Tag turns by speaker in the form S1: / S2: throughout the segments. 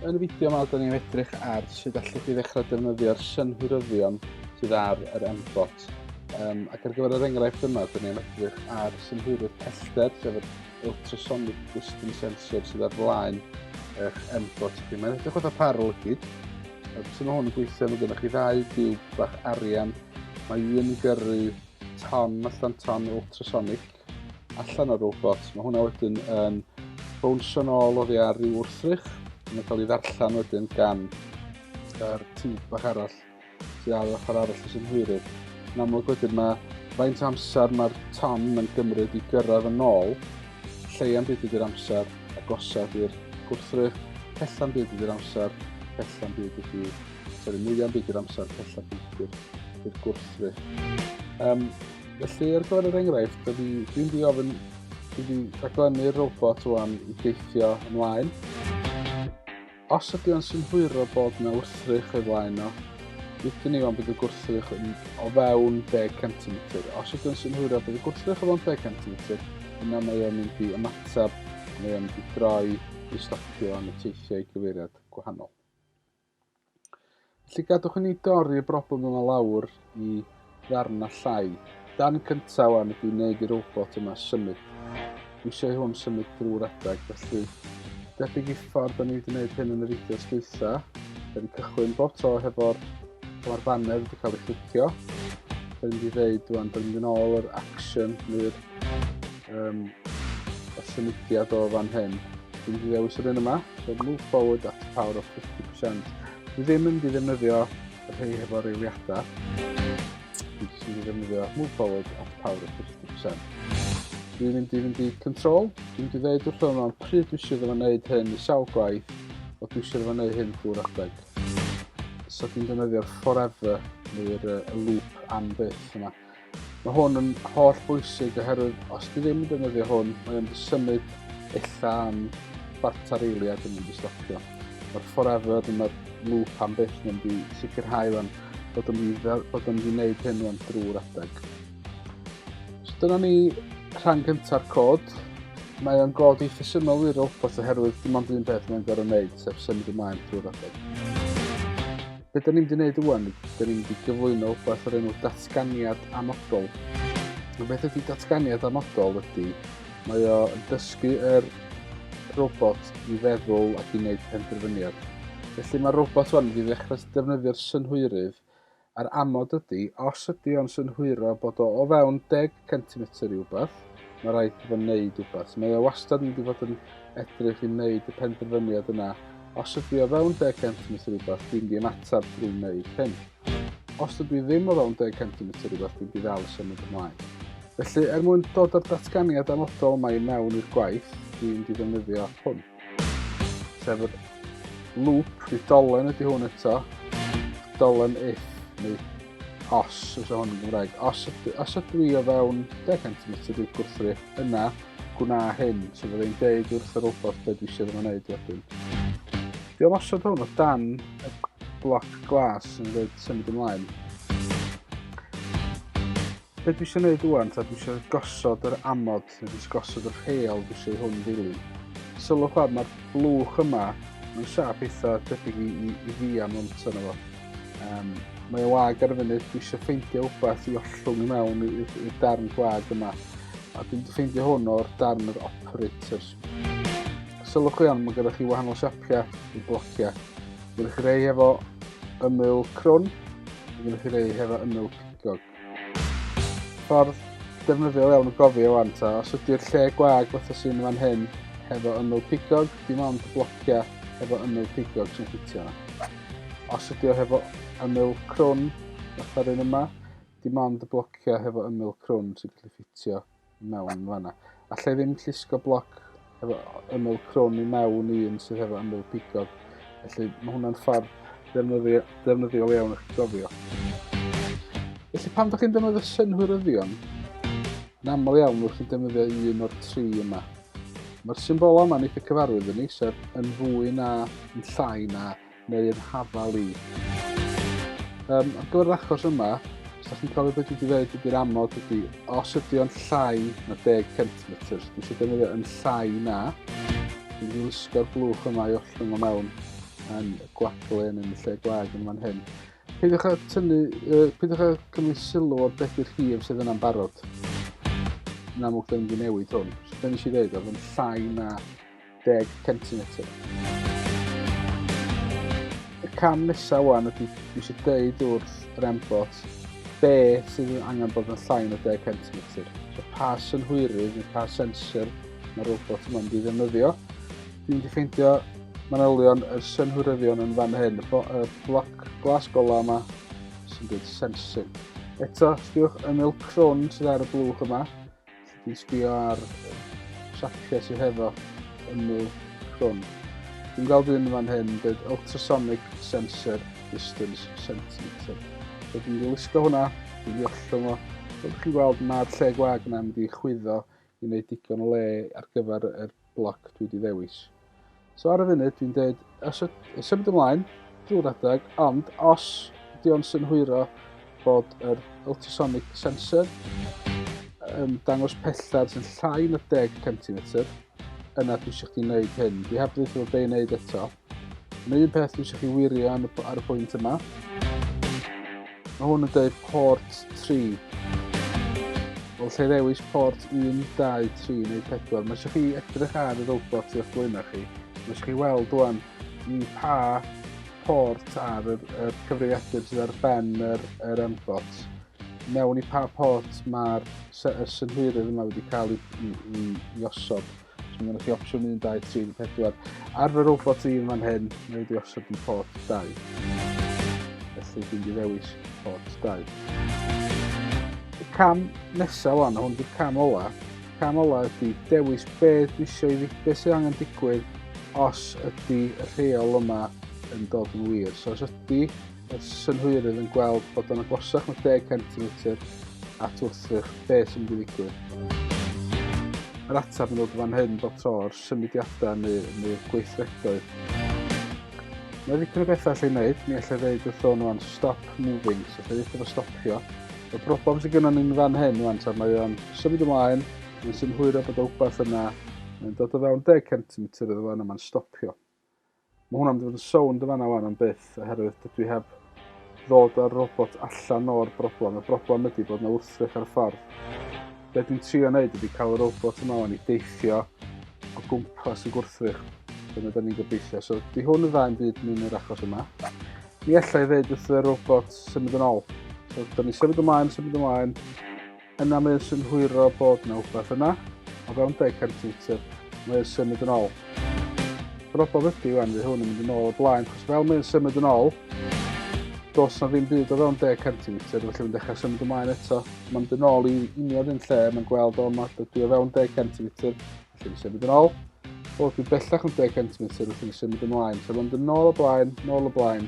S1: Yn y fideo yma, da ni'n edrych ar sut allwch chi ddechrau defnyddio'r synhwyryddion sydd ar yr MBOT. Um, ac ar gyfer yr enghraifft yma, da ni'n edrych ar synhwyrydd pellter, sef yr ultrasonic distance sensor sydd ar flaen eich M-Bot chi. Mae'n edrych oedd y par o lygyd. Sut mae hwn yn gweithio, mae gennych chi ddau diwb bach arian. Mae un yn gyrru ton allan ton ultrasonic allan o'r robot. Mae hwnna wedyn yn bownsio'n ôl oddi ar ryw wrthrych. Mae'n cael ei ddarllen wedyn gan yr tiwb bach arall. sydd ar yr ochr arall sy'n hwyrydd. Yn amlwg wedyn mae faint amser mae'r ton yn gymryd i gyrraedd yn ôl, lleian byd ydy'r amser, agosaf i'r gwrthrych, pellan byd ydy'r amser, pellan byd ydy, sori, mwyaf byd ydy'r amser, pellan byd ydy'r gwrthrych. Um, felly, ar gyfer yr enghraifft, dwi'n dwi di ofyn, dwi'n di rhaglennu'r robot o'n i geithio ymlaen. Os ydy o'n synhwyro bod yna wrthrych o'i flaen o, dydyn ni ond bydd y gwrthrych yn o fewn 10 cm. Os ydy o'n synhwyro bod y gwrthrych o fewn 10 cm, yna mae o'n mynd i ymateb, mae o'n mynd i droi i stopio yn y teithiau gyfeiriad gwahanol. Felly gadwch i ni dorri y broblem yma lawr i ddarna llai. Dan cyntaf wan ydy wneud i'r robot yma symud. Dwi eisiau hwn symud drwy'r adeg, felly debyg i ffordd da ni wedi gwneud hyn yn y fideos dwytha. Da ni'n cychwyn bob tro hefo'r mae'r banner wedi cael ei chlicio. Da ni'n wedi dweud rwan, da ni'n mynd ôl yr action neu'r um, y symudiad o fan hyn. Dwi'n wedi dewis yr un yma, so move forward at power of 50%. Dwi ddim yn di ddefnyddio y rhai hefo reiliadau. Dwi jyst yn di ddefnyddio move forward at power of 50%. Dwi'n mynd i fynd i control. Dwi'n mynd i ddeud wrth hwn o'n pryd dwi eisiau fo wneud hyn i sawl gwaith o dwi eisiau fo wneud hyn drwy'r adeg. So dwi'n defnyddio'r forever neu'r loop am byth yma. Mae hwn yn holl bwysig oherwydd os ti ddim yn defnyddio hwn, mae o'n symud illa am chwarter eiliad yn mynd i stopio. Mae'r forever, dyma'r loop am byth yn mynd i sicrhau fan bod yn mynd i bod yn gwneud hyn fan drwy'r adeg. So dyna ni rhan gyntaf cod. Mae o'n god eitha syml i'r robot oherwydd dim ond un peth mae'n gorau wneud, sef symud ymlaen drwy'r adeg. Be da ni'n di wneud ywan? Da ni'n di gyflwyno wbeth o'r enw datganiad amodol. Y beth ydy datganiad amodol ydy, mae o yn dysgu yr robot i feddwl ac i wneud penderfyniad. Felly mae'r robot hwn wedi ddechrau defnyddio'r synhwyrydd a'r amod ydy, os ydy o'n synhwyro bod o o fewn 10 centimetr i wbeth, mae rhaid i fo wneud wbeth. Mae o wastad yn mynd i fod yn edrych i wneud y penderfyniad yna. Os ydw i o fewn 10 centimetr i wbeth, dwi'n di ymateb drwy wneud hyn. Os ydw i ddim o fewn 10 centimetr i wbeth, dwi'n di ddal i symud ymlaen. Felly, er mwyn dod â'r datganiad amodol mae mewn i'r gwaith, dwi'n di ddefnyddio hwn. Sef yr loop, bydd dolen ydy hwn eto. Dolen if, neu os, os o hwn yn Gymraeg. Os, os ydw i o fewn 10 cm i'r gwrthri, yna gwna hyn, so fydda i'n deud wrth y robot beth dwi eisiau ddim yn gwneud wedyn. Dwi am osod hwn o dan y bloc glas yn dweud symud ymlaen. Be dwi eisiau gwneud wwan, ta dwi eisiau gosod yr amod Dwi jyst gosod y rheol dwi eisiau hwn ddilyn. Sylwch fawr, mae'r blwch yma, mae'n siap eitha tebyg i, i, i fi am ond yna fo. Um, mae o wag ar y funud, dwi eisiau ffeindio wbath i ollwng i mewn i'r darn gwag yma. A dwi'n ffeindio hwn o'r darn yr operators. Sylwch chi iawn, mae gyda chi wahanol siapiau i blociau. Gyda chi rei hefo ymyl crwn, gyda chi rei hefo ymyl pigog. Ffordd defnyddiol iawn o gofio wan ta, os ydy'r lle gwag fatha sy'n fan hyn, hefo ymyl pigog, dim ond blocia hefo ymyl pigog sy'n ffitio yna. Os ydy o hefo ymyl crwn, fatha'r un yma, dim ond y blocia hefo ymyl crwn sy'n gallu ffitio mewn fanna. Alla i ddim llusgo bloc efo ymwyl crwn i mewn i un sydd hefo ymwyl pigog. Felly mae hwnna'n ffordd defnyddio, defnyddiol iawn o'ch gofio. Felly pan ydych chi'n defnyddio synhwyryddion, yn aml iawn wrth chi'n defnyddio un o'r tri yma. Mae'r symbol yma'n eitha cyfarwydd yn ni, sef yn fwy na, yn llai na, neu'r hafal i. Um, ar gyfer yr achos yma, os ydych chi'n cofio beth wedi dweud ydy'r amod ydy, os ydy o'n llai na 10 cm, dwi eisiau defnyddio yn llai na, dwi'n mynd wisgo'r blwch yma i ollwng o mewn yn y gwadlen yn y lle gwag yn fan hyn. Peidiwch â tynnu, uh, peidiwch â cymryd sylw o'r beth i'r llif sydd yna'n barod. Yn amlwg, dyn ni'n newid hwn. So, dyn ni eisiau dweud, oedd yn llai na 10 centimetr. Y cam nesaf wan ydy dwi eisiau dweud wrth yr embot be sydd yn angen bod yn llain o 10 centimetr. So pa synhwyrydd neu pa sensor mae'r robot yma'n mynd i ddefnyddio. Dwi'n wedi ffeindio manylion y synhwyryddion yn fan hyn, y bloc glas gola yma sy'n dweud sensing. Eto, sbiwch ymyl crwn sydd ar y blwch yma, Dwi'n sbio ar siapiau sydd hefo ymw crwn. Dwi'n gweld un fan hyn, dweud ultrasonic sensor distance centimeter. So dwi'n mynd i wisgo hwnna, dwi'n mynd i ollwng o. Fel ydych chi'n gweld, mae'r lle gwag yna mynd i chwyddo i wneud digon o le ar gyfer y bloc dwi wedi ddewis. So ar y funud dwi'n dweud, os y symud ymlaen, drwy'r adeg, ond os ydy o'n synhwyro bod yr ultrasonic sensor yn dangos pellter sy'n llai na 10 cm, yna dwi eisiau chdi wneud hyn. Dwi heb ddweud bod be'n wneud eto, Mae un peth dwi eisiau chi wirio ar y pwynt yma. Mae hwn yn dweud port 3. Wel, lle ddewis port 1, 2, 3 neu 4, mae eisiau chi edrych ar y robot i'ch blaenau chi. Mae eisiau chi weld dwan i pa port ar y, y cyfrifiadur sydd ar ben yr, yr M-bot. Mewn i pa port mae'r y synhwyrydd yma wedi cael ei, ei, ei osod. Mae gennych chi opsiwn 1, 2, 3, 4. Ar fy robot i yn fan hyn, mae wedi osod yn port 2. Felly dwi'n di ddewis port 2. Y cam nesaf wan, hwn di'r cam ola. Cam ola ydy dewis be dwi eisiau i fi, sydd angen digwydd os ydy y rheol yma yn dod yn wir. So os ydy y synhwyrydd yn gweld bod o'n agosach na 10 centimetr at wrthrych be sy'n mynd i ddigwydd. Yr ateb yn dod fan hyn bob tro o'r symudiadau neu, neu gweithredoedd. Mae ddigon o bethau allai wneud, mi allai ddeud wrtho nhw am stop moving, so allai ddeud efo stopio. Y broblem sydd gyda ni'n fan hyn rwan, tra mae o'n symud ymlaen, mae'n synhwyro bod o wbeth yna, mae'n dod o fewn 10 cm iddo fan yma'n stopio. Mae hwnna'n mynd i fod yn sownd yn fanna wan am byth, oherwydd dydw i heb ddod â'r robot allan o'r broblem. Y broblem ydy bod yna wrthrych ar y ffordd. Be dwi'n trio wneud ydy cael y robot yma wan i deithio o gwmpas y gwrthrych. Dyna da ni'n gobeithio. So, di hwn yn dda yn byd mewn yr achos yma. Ni allai ddeud wrth y robot symud yn ôl. So, da ni'n symud ymlaen, symud ymlaen. Yna mae o'n synhwyro bod na wbath yna, o fewn deg cant metr, mae o'n symud yn ôl. Broblem ydi wan fy hwn yn mynd yn ôl o blaen, chos fel mae o'n symud yn ôl, dos na ddim byd o fewn deg cant metr, felly mae'n dechrau symud ymlaen eto. Mae'n mynd yn ôl i union un lle, mae'n gweld o yma, dydy o fewn deg cant metr, Lle fi symud yn ôl. O, dwi bellach yn 10 centimetr wrth i fi symud ymlaen. So mae'n dyn nôl o blaen, nôl o blaen,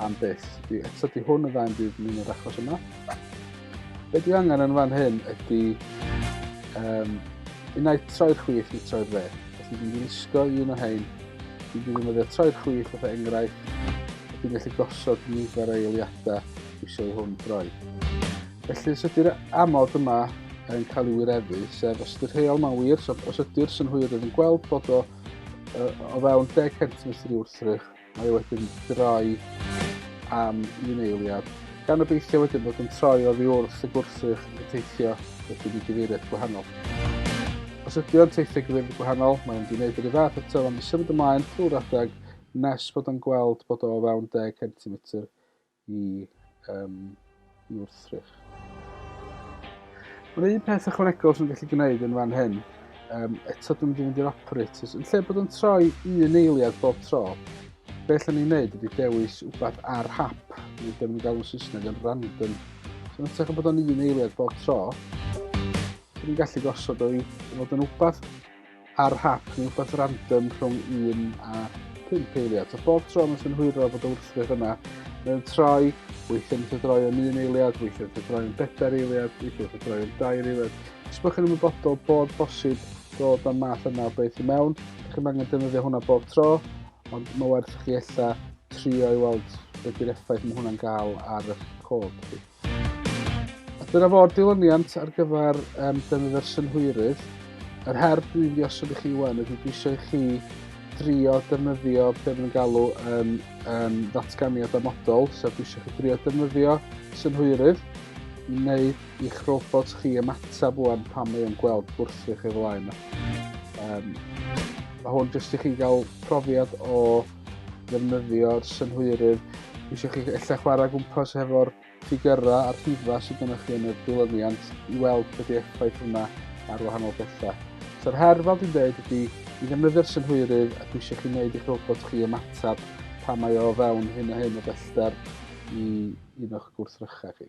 S1: am byth. Di, eto di hwn yn dda yn byd yn yr achos yma. Be dwi angen yn fan hyn ydy um, unai troi'r chwith neu troi'r dde. Os dwi'n mynd i wisgo un o hein, dwi'n defnyddio troi'r chwith fatha enghraifft. Dwi'n gallu gosod nifer o eiliadau eisiau i hwn droi. Felly, os ydy'r amod yma yn cael ei wireddu, sef os ydy'r rheol ma'n wir, so os ydy'r synhwyrydd yn gweld bod o uh, o fewn 10 centimetr i wrthrych, mae o wedyn droi am un eiliad. Gan obeithio wedyn bod yn troi oddi wrth y gwrthrych yn teithio wedyn i gyfeiriad gwahanol. Os ydy o'n teithio gyfeiriad gwahanol, mae'n mynd i wneud yr un fath eto, ond i symud ymlaen trwy'r adeg nes bod o'n gweld bod o o fewn 10 centimetr i um, i wrthrych. Mae'n un peth ychwanegol sy'n gallu gwneud yn fan hyn, um, eto dwi'n mynd i fynd i'r operators, yn lle bod yn troi un eiliad bob tro, be allan ni'n neud ydy dewis wbeth ar hap, neu dim yn galw'n Saesneg yn random. So yn tech bod o'n un eiliad bob tro, so ni'n gallu gosod o'i fod yn wbeth ar hap neu rhywbeth random rhwng 1 a 5 eiliad. So bob tro mae'n synhwyro bod y wrthrych yna mewn troi, weithiau'n mynd droi yn un eiliad, weithiau'n mynd droi yn bedair eiliad, weithiau'n mynd droi yn dair eiliad. Os byddwch chi'n ymwybodol bod bosib dod â'r math yna o beth i mewn, chi'n angen defnyddio hwnna bob tro, ond mae werth chi eitha trio i weld beth yw'r effaith mae hwnna'n gael ar y cod. Dyna fo'r dilyniant ar gyfer um, defnydd yr synhwyrydd. Yr her dwi'n ddiosod i chi wan ydy dwi eisiau chi drio defnyddio be maen nhw'n galw yn um, ddatganiad amodol, sef dwi eisiau chi drio defnyddio synhwyrydd i wneud i'ch robot chi ymateb wan pan mae o'n gweld gwrthrych ei flaen. Um, mae hwn jyst i chi gael profiad o ddefnyddio'r synhwyrydd. Eisiau chi ella chwarae gwmpas hefo'r ffigyrau a'r rhifau sydd gennych chi yn y dilyniant i weld beth yw'r effaith hwnna ar wahanol bethau. So'r her, fel dwi'n dweud, ydy i ddefnyddio'r synhwyrydd ac eisiau chi wneud eich robot chi ymateb pa mae o fewn hyn a hyn o bellter i un o'ch gwrthrychau chi.